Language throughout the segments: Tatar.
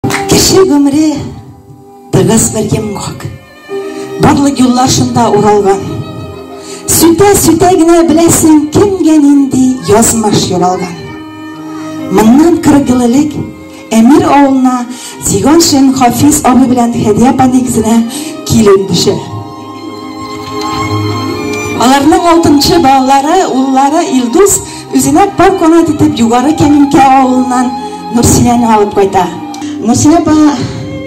Кеше гомере тыгыз бер йомгак. Барлык юллар шунда уралган. Сүтә-сүтә генә беләсең, кемгә нинди язмыш юралган. Моннан 40 ел элек Әмир авылына Зиганшин Хафиз абый белән Хәдия паниксына килеп төшә. Аларның алтынчы балалары, уллары Илдус Үзенә пар канат итеп Югары Кәминкә авылыннан Нурсинәне алып кайта. Нурсинә апа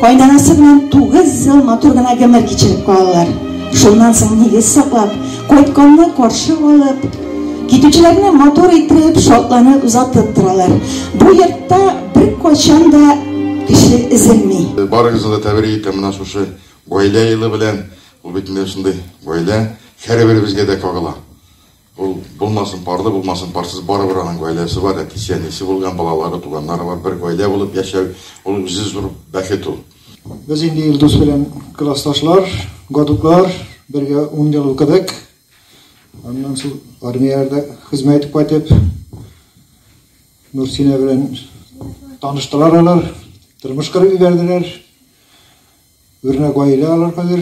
кайнанасы белән тугыз ел матур гына гомер кичереп калалар. Шуннан соң нигез саклап, кайтканны каршы алып, китүчеләрне матур итеп, шатланып озатып торалар. Бу йортта бер кайчан да кеше эзелми. Барыгызны да тәбрик итәм менә шушы гаилә елы белән. Ул бит менә шундый гаилә һәрберебезгә дә кагыла. Ул булмасын парлы, булмасын парсыз, барыбер аның гаиләсе бар, әтисе, әнисе булган, балалары, туганнары бар, бер гаилә булып яшәү, ул үзе зур бәхет ул. Без инде Илдус белән классташлар, гадутлар, бергә ун ел укыдык. Аннан соң армияләрдә хезмәт итеп кайтып, Нурсинә белән таныштылар алар, тормыш корып ибәрделәр. Үрнәк гаилә алар хәзер.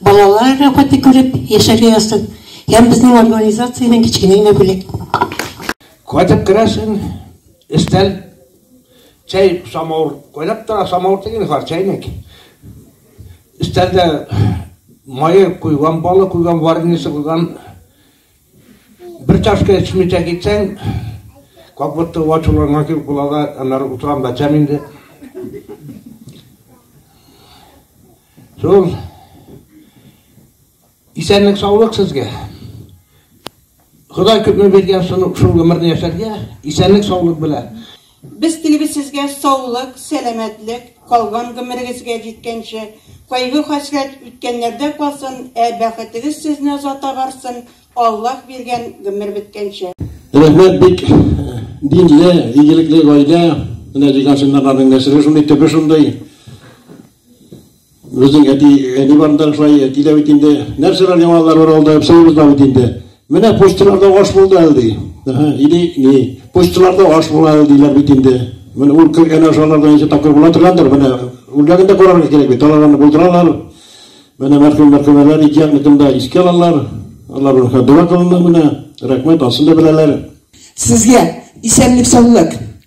Балалар рәхәте күреп яшәргә язсын һәм безнең организациядән кечкенә генә бүләк. Кайтып керәсең, өстәл, чәй, самавыр кайнап тора, самавыр түгел, хар чәйнек. Өстәлдә мае куйган, балы куйган, вареньесы куйган. Бер чашка эчмичә китсәң, как будто ачуланган кебек була да, аннары утырам да эчәм инде. Зур исәнлек саулык сезгә. Ходай күпме биргән шул гомерне яшәргә, исәнлек саулык белән. Без телибез сезгә саулык, сәламәтлек, калган гомерегезгә җиткәнче, кайгы хәсрәт үткәннәрдә калсын, ә бәхетегез сезне озата барсын, Аллаһ биргән гомер беткәнче. Рәхмәт бик динле, игелекле гаилә. Менә дигән синнарларның нәселе шундый, төбе шундый. Үзең әти, әни барында шулай әти дә бит инде. Нәрсәләр яңалар бар алда, әпсәебез дә бит инде. Менә почталарда аш булды әле ди. Әһә, иди, ни, почталарда аш була әле диләр бит инде. Менә ул кергән ашаларда ничә тапкыр була торгандыр, менә үлгәнгә карарга кирәк бит. Аларны булдыралар. Менә мәрхүм мәрхүмәләр ике якныкын да искә алалар. Алар рухына дога кылына менә. Рәхмәт, асын да беләләр. Сезгә исәнлек-саулык.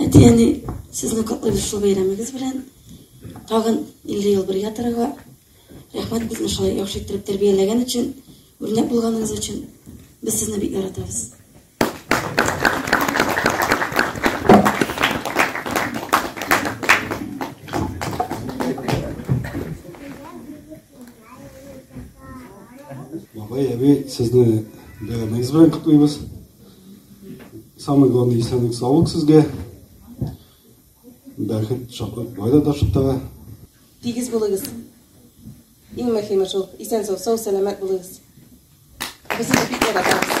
Әти-әни, сезне котлыйбыз шул бәйрәмегез белән. Тагын 50 ел бергә торырга. Рәхмәт безне шулай яхшы иттереп тәрбияләгән өчен, үрнәк булганыгыз өчен. Без сезне бик яратабыз. Бабай, әби, сезне бәйрәмегез белән котлыйбыз. Самый главный исәнлек саулык сезгә. Бәхет, шатлык, байлык да шыттыгы. Тигез булыгыз. Иң мөһиме шул. Исән сау, сау, сәламәт булыгыз. Без сезне бик яратабыз.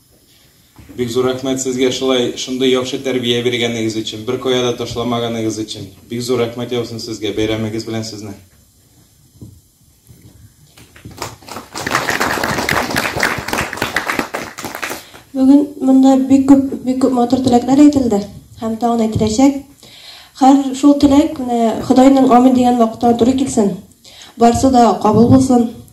Бик зур рәхмәт сезгә шулай шундый яхшы тәрбия биргәнегез өчен, бер кая да ташламаганыгыз өчен. Бик зур рәхмәт яусын сезгә, бәйрәмегез белән сезне. Бүген монда бик күп, бик күп матур теләкләр әйтелде һәм тагын әйтеләчәк. Хәр шул теләк менә Худайның амин дигән вакытта туры килсен. Барсы да кабул булсын.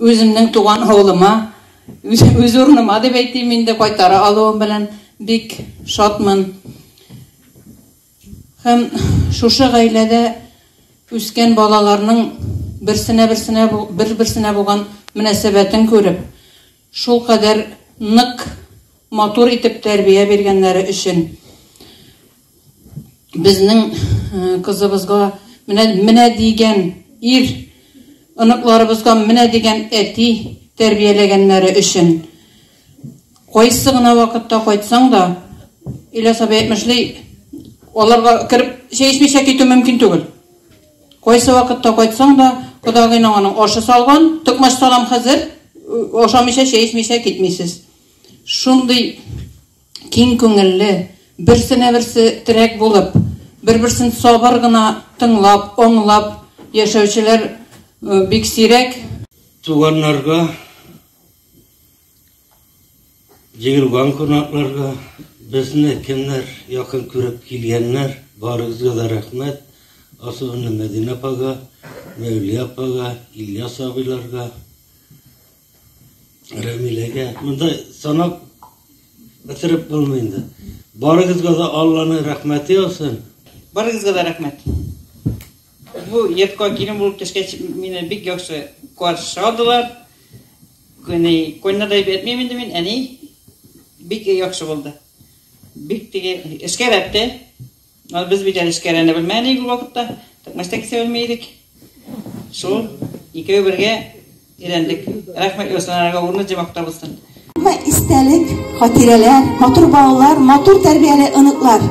Үземнең туган авылыма, үз урыныма дип әйтим инде, кайтара алуым белән бик шатмын. Һәм шушы гаиләдә үскән балаларның берсенә-берсенә бер-берсенә булган мөнәсәбәтен күреп, Шулкадәр нык, матур итеп тәрбия биргәннәре өчен безнең кызыбызга менә, менә дигән ир, оныкларыбызга менә дигән әти тәрбияләгәннәре өчен. Кайсы гына вакытта кайтсаң да, Ильяс абый әйтмешли, аларга кереп чәй эчмичә китү мөмкин түгел. Кайсы вакытта кайтсаң да, кодагыйның аның ашы салган, токмач салам хәзер, ашамыйча, чәй эчмичә китмисез. Шундый киң күңелле, берсенә берсе терәк булып, бер-берсен сабыр гына тыңлап, аңлап яшәүчеләр бик сирәк. Туганнарга Җыелган кунакларга, безне кемнәр якын күреп килгәннәр, барыгызга да рәхмәт. Особенно Мәдинә апага, Мәүлия апага, Ильяс абыйларга, Рәмиләгә. Монда санап бетереп булмый инде. Барыгызга да Алланың рәхмәте яусын. Барыгызга да рәхмәт. Бу йортка килен булып төшкәч, мине бик яхшы каршы алдылар. Күне көнне дип әйтмим инде мин, әни бик яхшы булды. Бик теге эшкәрәтте. Ул без бит әле эшкәрәне белмәдек ул вакытта. Токмачта кисә белми идек. Шул икәү бергә өйрәндек. Рәхмәт Ясанарга урны җимакта булсын. Һәммә истәлек, хатирәләр, матур балалар, матур тәрбияле оныклар.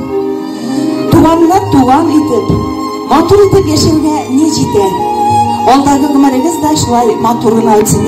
Туганны туган итеп, матур итеп яшәүгә ни җитә? Алдагы гомерегез дә шулай матур гына үтсен.